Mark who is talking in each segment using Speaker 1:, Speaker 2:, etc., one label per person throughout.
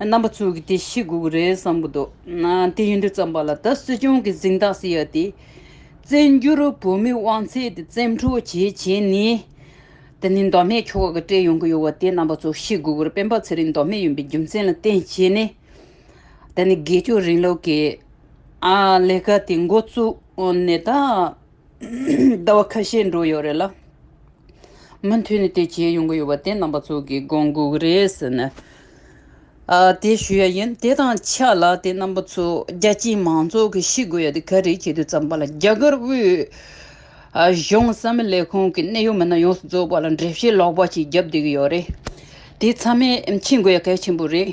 Speaker 1: རྣམ་པ་ཚུལ་གྱི་དེ་བཞི་དགུག་རེ་བསམ་གྱི་འདུག་དེ་ཡིན་དུས་བརྩམས་པ་ལ་ད་སྲིད་སྐྱོང་གི་གཟིངས་རྟགས་སྲིད་ཡ་དེ། བཙན་འགྱུར་བོད་མི་དབང་ཚད་དེ་བཙན་འཕྲོག་བྱེད་བྱེད་ནས། དེ་ནི་མདོ་སྨད་ཁྱོ་ག་གི་སྤྲད་ཡོང་གི་ཡོད་བ་དེ་རྣམ་པ་ཚུལ་བཞི་དགུག་རེ་སྤེན་པ་ཚེ་རིང་མདོ་སྨད་ཡིན་པའི་རྒྱུ་མཚན་ལ་བརྟེན་བྱས་ནས། དེ་ནི་དགེ་སྐྱོ་རིང་ལུགས་ཀྱི་ལས་ཀ་དེ་འགོ་བཙུགས་ནས་ད། ཟླ་བ་ཁ་ཤས་འགྲོ་ཡོད་རེད་ལ། མུ་མཐུད་ནས་དེ་བྱས་ཡོང་གི་ཡོད་པ་དེ་རྣམ་པ་ཚོ་གིས་དགོངས་དགོས་ཀྱི་རེད་ཟེར་ནས། དེ་ཞུས་ཡ་ཡིན་དེ་དང་ཆབས་ལ་དེ་རྣམ་པ་ཚོ་རྒྱ་ཆེའི་མང་ཚོགས་ཀྱིས་ཤེས་དགོས་ཡ་དེ་ག་རེད་བྱས་དུས་བརྩམས་པ་ལ་རྒྱ་གར་དབུས་གཞུང་གསང་མི་ལས་ཁུངས་ཀྱི་གནད་ཡོད་མི་སྣ་ཡོངས་སུ་རྫོགས་པ་ལ་འགྲེལ་བཤད་ལོག་པ་ཞིག་རྒྱབ་བསྡད་ཀྱི་ཡོད་རེད། དེ་ཚང་མས་མཁྱེན་དགོས་ཡ་གལ་ཆེན་པོ་རེད།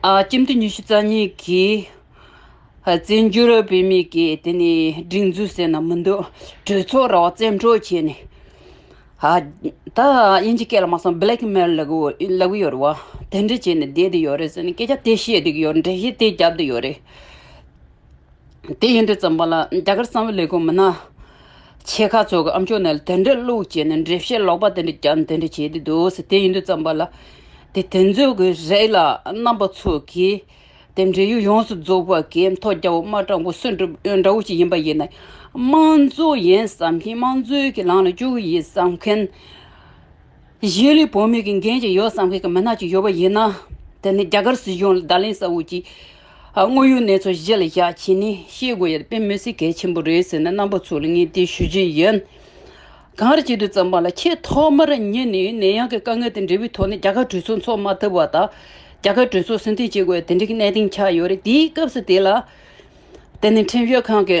Speaker 1: ཁྱིམ་དུད་ཉི་ཤུ་རྩ་གཉིས་ཀྱིས། བཙན་བྱོལ་བོད་མིའི་གིས་དེ་ནི་སྒྲིག་འཛུགས་ཟེར་ན་མི་འདུག་གྲོས་ཚོགས་ར་བ་བཙན་འཕྲོག་བྱས་ནས། ད་དབྱིན་ཇི་སྐད་ལ་མ་གསང Black Mail ལབ་གི་ཡོད་རེད་བ། དེ་འདྲ་བྱས་ནས་བསྡད་དེ་ཡོད་རེད་ཟེར་ནས་སྐད་ཆ་དེ་བཤད་དེ་གི་ཡོད་རེད་འགྲེལ་བཤད་དེ་རྒྱབ་དེ་ཡོད་རེད། དེ་ཡིན་དུས་བརྩམས་པ་ལ་རྒྱ་གར་གསང་བའི་ལས་ཁུངས་མི་སྣ་ཆེ་ཁག་ཚོས་ཀྱང་ཨམ་ཆོས་ནས་དེ་འདྲའི་བླུགས་བྱས་ནས་འགྲེལ་བཤད་ལོག་པ་དེ་འདྲ་རྒྱབ་དེ་འདྲ་བྱས་ཏེ་འདུག་ཟེར་དེ་ཡིན་དུས་བརྩམས་པ་ལ་དེ་དེ་ཚོའི་གི་རེད་ལ་རྣམ་པ་ཚོས་གི་དེ་འབྲེལ་ཡོད་ཡོངས་སུ་རྫོགས་པ་གི་མཐོ་རྒྱ་འོག་མ་སྤྲང་པོ་གསོན་གྲུབ་འདྲ་བོ་ཞིག་ཡིན་པ་ཡིན་ན་དམངས་གཙོ་ཡིན་བསམ་གིན་དམངས་གཙོའི་གི་ལངས་ལ་བཅུག་གི་ཡིན་བསམ་མཁན། གཞིས་ལུས་བོད་མི་གི་འགན་ཅིག་ཡོད་བསམ་མཁན་གི་མི་སྣ་ཅིག་ཡོད་པ་ཡིན་ན། དེ་ནི་རྒྱ་གར་སྲིད་གཞུང་ལ་བརྡ་ལན་ཟ་འོས་ཀྱི། དངོས་ཡོད་གནས་ཚུལ་གཞི་ལ་བཞག་ཕྱིན་ནི་ཤེས་དགོས་ཡ་རེད་དཔེ་མི་སྲིད་གལ་ཆེན་པོ་རེད་ཟེར་ནས་རྣམ་པ་ཚོ་ལ་ངས་དེ་ཞུ་རྒྱུ་ཡིན། གང་རེ་བྱེད་དུ་བརྩམས་པ་ལ་ཆེས་ཐོག་མར་ཉིད་ནས་ནད་ཡམས་ཀྱི་དཀའ་ངལ་དེ་འབྲས་བུའི་ཐོག་ནས་རྒྱ་གར་གྲོས་ཚོགས་འཚོགས་མ་ཐུབ་པ་དང། རྒྱ་གར་གྲོས་ཚོགས་སྲིད་འཛིན་བྱེད་དགོས་ཡ་དེ་འདྲའི་གནས་སྟེང་ཆགས་ཡོད་རེད་དེའི་སྐབས་སུ་དེ་ལ། དེ་ནི་ཁྲིམས་ཞིབ་ཁང་གི།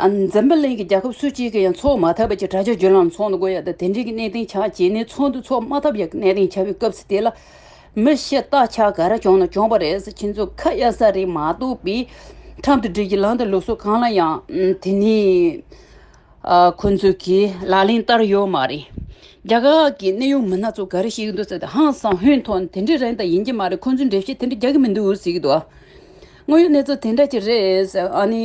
Speaker 1: འཛམ་བུ་གླིང་གི་རྒྱལ་ཁབ་སུ་གཅིག་གིས་ཡང་འཚོགས་མ་ཐབས་པ་གྱི་དྲ་རྒྱ་བརྒྱུད་ལམ་ཚོགས་འདུ་དགོས་ཡ་དང་དེ་འབྲེལ་གྱི་གནད་དོན་ཆགས་རྗེས་ནས་ཚོགས་འདུ་འཚོགས་མ་ཐབས་ཡ་གནད་དོན་ཆགས་པའི་སྐབས་སུ་དེ་ལ་མི་ཤེས་རྟགས་ཆགས་ག་རེ་བྱུང་ན་བྱུང་བ་རེད་ཟེར་ཁྱེད་ཚོ་ཁ་གཡར་ས་རེད་མ་གཏོགས་པའི་ཁྲམ་དུ་སྒྲིལ་གྱི་ལམ་དང་ལུགས་སྲོལ་གང་ལ་ཡང་དེ་ནི་ཁོ་ཚོ་གིས་ལག་ལེན་བསྟར་ཡོད་མ་རེད། རྒྱ་གར་གྱི་གནས་ཡུལ་མི་སྣ་ཚོ་ག་རེ་བཤད་ཀྱི་འདུག་ཟེར་ཏེ་ཧང་སང་ཧོན་ཐོག་ནས་དེ་འདྲའི་རེད་མདའ་ཡིན་གྱི་མ་རེད་ཁོ་ཚོས་འགྲེལ་བཤད་དེ་འདྲ་རྒྱག་གི་མི་འདུག་ཟེར་གྱི་འདུག་དངོས་ཡོད་གནས་ཚུལ་དེ་འདྲ་ཅིག་རེད་ཟེར་ཨ་ནི།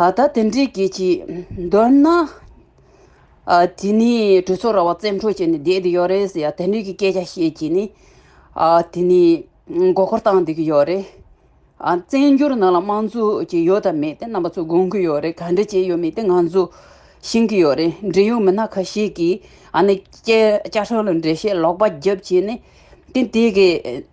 Speaker 1: ད་དེ་འདྲའི་སྐད་ཅིག་འདོན་ན། དེ་ནི་གྲོས་ཚོགས་ར་བ་བཙན་འཕྲོག་བྱས་ནས་བསྡད་དེ་ཡོད་རེད་ཟེར་ཡ་དེ་འདྲའི་སྐད་ཆ་བཤད་ཀྱིས་ནི། དེ་ནི་མགོ་སྐོར་བཏང་བསྡད་ཀྱི་ཡོད་རེད། བཙན་འགྱུར་ནང་ལ་དམངས་གཙོ་ཅེས་ཡོད་དམ་མེད་དེ་རྣམ་པ་ཚོས་དགོངས་ཀྱི་ཡོད་རེད་ག་འདྲ་བྱས་ཡོད་མེད་དེ་ང་ཚོ་ཤེས་ཀྱི་ཡོད་རེད་འབྲེལ་ཡོད་མི་སྣ་ཁ་ཤས་ཀྱིས་ཨ་ནི་བཅད་བཅད་ཧྲོལ་ལ་འགྲེལ་བཤད་ལོག་པ་རྒྱབ་བྱས་ནས་དེ་དེ་གའི།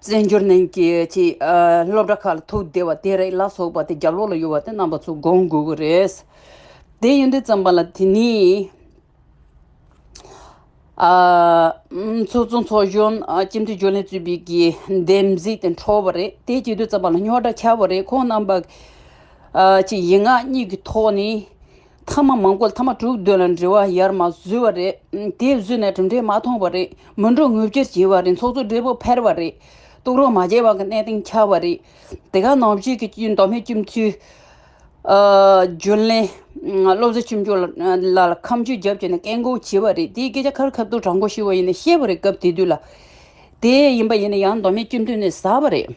Speaker 1: བཙན་བྱོལ་ནང་གི་སློབ་གྲྭ་ཁག་ལ་ཐུག་བསྡད་པ་དེ་རེད་ལ་སོགས་པ་དེ་རྒྱ་ལོག་ལ་ཡོད་པ་དེ་རྣམ་པ་ཚོ་དགོངས་དགོས་ཀྱི་རེད། དེ་ཡིན་དུས་ཙམ་པ་ལ་དེ་ནི། ཚོགས་གཙོ་ཚོགས་གཞོན་སྤྱི་འཐུས་རྒྱུན་ལས་གཙོས་པའི་གི་འདེམས་གཟིགས་དེ་འཕྲོ་བ་རེད་དེ་བྱེད་དུས་ཙམ་པ་ལ་རྙོག་དྲ་ཁྱབ་པ་རེད་ཁོང་རྣམ་པ། ཡིག་ངག་གཉིས་ཀྱི་ཐོག་ནས་མཐའ་མ་མང་པོ་མཐའ་མ་དྲུག་བདུན་ལ་འབྲེལ་བ་ཡར་མ་བཟོས་བ་རེད། དེ་བཟོས་ནས་གྲུབ་འབྲས་མ་མཐོང་བ་རེད། མི་འགྲོ་ངུ་བཅོལ་བྱས་བ་རེད་ཚོགས་གཙོ་སྦྲེལ་པོ་ཕེར་བ་རེད། གཏུག་རོགས་མ་བྱས་བ་གི་གནས་སྟེང་འཁྱར་བ་རེད། དེ་ག་ནང་ཆོས་ཀྱི་མདོ་སྨད་སྤྱི་འཐུས། རྒྱུན་ལས། བློ་བཟོ་ཆུང་ཆུང་ལ་ལ་ཁམས་ཆུས་རྒྱབ་བྱས་ནས་བཀས་འགོག་བྱས་བ་རེད་དེའི་སྐད་ཆ་ཁར་ཁ་བཏུག་དྲག་མགོ་ཞུས་བ་ཡིན་ནས་བཤད་བ་རེད་སྐབས་དེ་དུས་ལ། དེ་ཡིན་པ་ཡིན་ནས་ཡང་མདོ་སྨད་སྤྱི་འཐུས་ནས་ཟ་བ་རེད།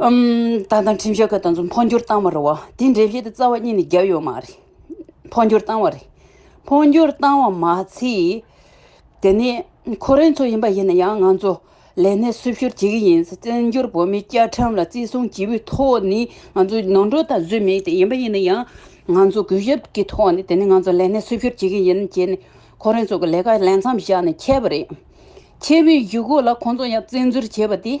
Speaker 1: ད་ལྟ་ཁྲིམས་ཞིབ་ཁ་ད་ཚོ་འཕོ་འགྱུར་བཏང་བ་རེད་བ་དེ་འགྲེལ་བཤད་དེ་རྩ་བ་གཉིས་ནས་བརྒྱབ་ཡོད་མ་རེད། འཕོ་འགྱུར་བཏང་བ་རེད། འཕོ་འགྱུར་བཏང་བ་མ་ཚད། དེ་ནས་ཁོ་རང་ཚོ་ཡིན་པ་ཡིན་ན་ཡང་ང་ཚོ་ལས་གནས་སུ་ཕྱིར་བྱེད་ཀྱི་ཡིན། བཙན་བྱོལ་བོད་མི་བཅའ་ཁྲིམས་ལ་བརྩི་སྲུང་བྱེད་པོའི་ཐོག་ནས་ང་ཚོ་ནོར་འཁྲུལ་དང་བཟོས་མེད་དེ་ཡིན་པ་ཡིན་ན་ཡང་ང་ཚོ་གུས་ཞབས་ཀྱི་ཐོག་ནས་དེ་ནས་ང་ཚོ་ལས་གནས་སུ་ཕྱིར་བྱེད་ཀྱི་ཡིན་བྱས་ནས་ཁོ་རང་ཚོ་གི་ལས་ཀ་ལས་མཚམས་བཞག་ནས་ཁྱེར་བ་རེད། ཁྱེར་བའི་བཞུགས་སྒོ་ལ་ཁོང་ཚོ་ཡང་བཙན་འཛུལ་བྱས་པ་དེ།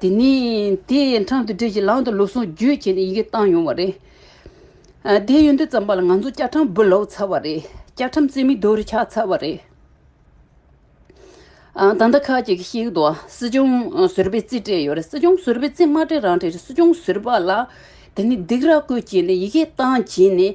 Speaker 1: དེ་ནི་དེའི་འཕྲང་དུ་སྦྲེལ་གྱིས་ལམ་དང་ལུགས་ཟུང་བརྒྱུད་བྱས་ནས་ཡི་གེ་བཏང་ཡོང་བ་རེད། དེའི་ཡོན་ཏན་བརྩམས་པ་ལ་ང་ཚོ་སྐྱག་ཁྲམ་འབུ་ལོག་ཚར་བ་རེད། སྐྱག་ཁྲམ་རྩེ་མིག་རྡོ་རུ་འཁྱག་ཚར་བ་རེད། ད་ལྟ་ཁག་ཅིག་གིས་ཤིག་ཏུ་སྲིད་སྐྱོང་ཟུར་པའི་རྩིས་སྤྲད་ཡོད་རེད་སྲིད་སྐྱོང་ཟུར་པའི་རྩིས་མ་སྤྲད་རང་སྤྲད་རེད་སྲིད་སྐྱོང་ཟུར་པ་ལ་དེ་ནི་སྡིགས་ར་བསྐུལ་བྱས་ནས་ཡི་གེ་བཏང་བྱས་ནས་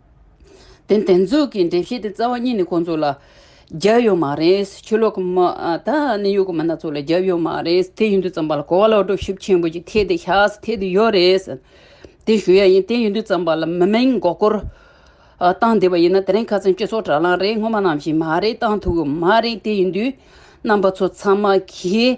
Speaker 1: དེ་འདེབས་འཛུགས་ཀྱི་འདེབས་གཞི་དེ་རྩ་བ་གཉིས་ནི་ཁོང་ཚོ་ལ་བརྒྱབ་ཡོད་མ་རེད། ཆོས་ལུགས་མི་དང་ནི་ཡུལ་གོ་མི་སྣ་ཚོ་ལ་བརྒྱབ་ཡོད་མ་རེད། དེ་ཡིན་དུས་རྩམ་པ་ལ་གོ་བ་ལ་གྲོ་ཞིབ་ཆེན་པོ་ཅིག་ཐེག་དེ་ཤགས་ཐེག་དེ་ཡོད་རེད། དེ་ཞུ་ཡ་ཡིན་དེ་ཡིན་དུས་རྩམ་པ་ལ་མི་མིང་མགོ་སྐོར་བཏང་བསྡད་པ་ཡིན་ན་དེ་རིང་ཁ་ཚོན་སྤྱི་ཚོགས་དྲ་ལམ་རེད་སྔོན་མ་ནང་བཞིན་མ་རེད་བཏང་ཐུབ་ཀྱི་མ་རེད་དེ་ཡིན་དུས་རྣམ་པ་ཚོ་ཚང་མ་གིས།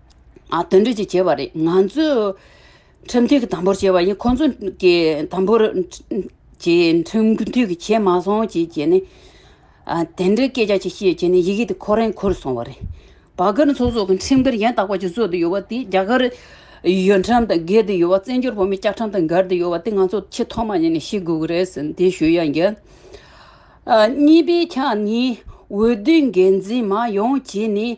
Speaker 1: དོན་འགྲེལ་གྱིས་བྱས་པ་རེད་ང་ཚོས་ཁྲིམས་མཐུན་གྱི་དམ་པོར་བྱས་པ་ཡིན་ཁོང་ཚོས་ཀྱི་དམ་པོར་ཀྱི་ཁྲིམས་མཐུན་གྱི་བྱས་མ་སོང་ཅེས་བྱས་ནས་དེ་འདྲའི་སྐད་ཆ་ཅིག་བཤད་བྱས་ནས་ཡི་གེ་དེ་ཁོ་རང་འཁུར་སོང་བ་རེད། བ་གར་ཚོགས་གཙོ་གི་ཁྲིམས་འགལ་ཡང་དག་པ་ཅིག་བཟོས་འདི་ཡོད་པ་དེ་རྒྱ་གར་ཡོད་ཁྲམ་དང་འགལ་འདི་ཡོད་བ་བཙན་བྱོལ་བོད་མི་སྐྱག་ཁྲམ་དང་འགལ་འདི་ཡོད་བ་དེ་ང་ཚོ་ཆེས་ཐོག་མ་ཉིད་ནས་ཤེས་དགོས་ཀྱི་རེད་ཟེར་འདི་ཞུ་ཡ་འགལ། གཉིས་པའི་ཆ་ནི་འོས་བསྡུའི་འགན་འཛིན་མ་ཡོང་བྱས་ནས།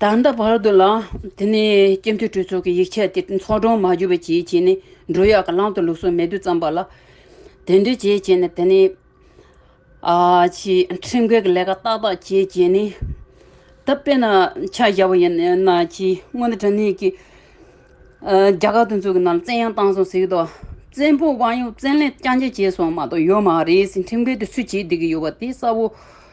Speaker 1: ད་ལྟ་བར་དུ་ལ། དེ་ནས་སྐྱེ་མཐུ་གྲོས་ཚོགས་ཀྱི་ཡིག་ཆ་དེ་ཚོགས་དྲུང་མ་བརྒྱུད་པ་གྱིས་བྱིན་ནས་འབྲུ་གཡག་གི་གླང་དུ་ལུགས་སྲོལ་མེད་དུ་བརྩམས་པ་ལ། དེ་འདྲའི་བྱས་བྱས་ནས་དེ་ནས། ཁྲིམས་འགལ་གྱི་ལས་ཀ་ཏག་ཏག་བྱས་བྱས་ནས། ད་དཔེར་ན་ཆ་བཞག་པ་ཡིན་ན་གྱིས་སྔོན་དུ་དྲ་གནས་ཀྱི། རྒྱ་གར་དུ་འཛུལ་གྱི་ནང་ལ་བཙན་ཡང་བཏང་སོང་ཟིག་དོ། བཙན་པོ་དབང་ཡོད་བཙན་ལས་རྐྱང་རྐྱང་བྱས་སོང་མ་གཏོགས་ཡོད་མ་རེད་ཟིག་ཁྲིམས་འགལ་དེ་སུས་བྱེད་བསྡད་ཀྱི་ཡོད་པ་དེ་གསལ་བོ།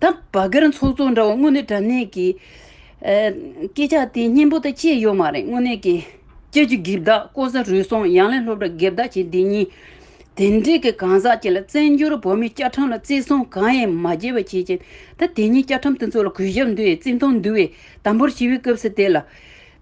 Speaker 1: ད་བ་གར་འཚོགས་འཚོགས་འདྲ་བ་དངོས་གནས་དྲ་གནས་ཀྱི། སྐད་ཆ་དེ་སྙན་པོ་དག་བཅད་ཡོད་མ་རེད་དངོས་གནས་ཀྱི། ཁྱེད་ཀྱི་གིབ་བདག་ཀོ་ས་རུལ་སོང་ཡང་ལན་སློབ་གྲྭ་གེབ་བདག་བྱེད་འདི་གཉིས། དེ་འདྲས་ཀྱི་གང་ཟག་ཅིག་ལ་བཙན་བྱོལ་བོད་མི་སྐྱ་ཁྲམ་ལ་བརྩི་སྲུང་གང་ཡང་མ་བྱས་པ་བྱེད་ཅིང་ད་དེ་གཉིས་སྐྱ་ཁྲམ་དེ་ཚོ་ལ་གུས་ཞབས་འདུད་ཡས་བརྩི་མཐོང་འདུད་ཡས་དམ་པོར་ཞི་བའི་སྐབས་སུ་དེ་ལ།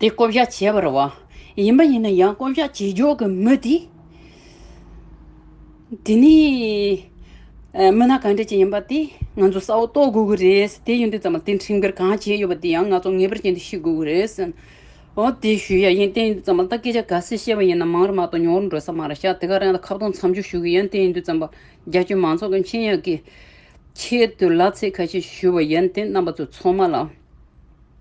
Speaker 1: དེ་བསྐོ་བཞག་བྱེད་པར་བ། ཡིན་པ་ཡིན་ན་ཡང་བསྐོ་བཞག་བྱེད་ཆོག་གི་མི་དེ། དེ་ནི། མི་སྣ་གང་འདྲ་ཅིག་ཡིན་པ་དེ་ང་ཚོ་བསལ་བོ་རྟོགས་དགོས་ཀྱི་རེད། དེ་ཡིན་དུས་ཙམ་ལ་དེ་འཕྲིན་སྤེལ་གང་བྱས་ཡོད་པ་དེ་ཡང་ང་ཚོ་ངེས་པར་ཅན་དུ་ཤེས་དགོས་ཀྱི་རེད། འོ་དེ་ཞུ་ཡ་ཡིན་བསྟན་ཡིན་དུས་ཙམ་ལ་ད་སྐད་ཆ་ག་སེ་བཤད་པ་ཡིན་ན་མང་རེ་མ་གཏོགས་ཉུང་རེ་འགྲོ་ས་མ་རེད་ཤག་དེ་ག་རང་ལ་ཁ་བཏོང་མཚམས་འཇོག་ཞུ་གི་ཡིན་བསྟན་ཡིན་དུས་ཙམ་པ་རྒྱ་ཁྱོན་མང་ཚོགས་ཀྱི་འཆིང་ཡ་གི་ཆེད་དུ་ལ་ཚེ་ཁ་ཤས་ཞུ་བ་ཡིན་བསྟན་རྣམ་པ་ཚོ་ཚོགས་མ་ལ།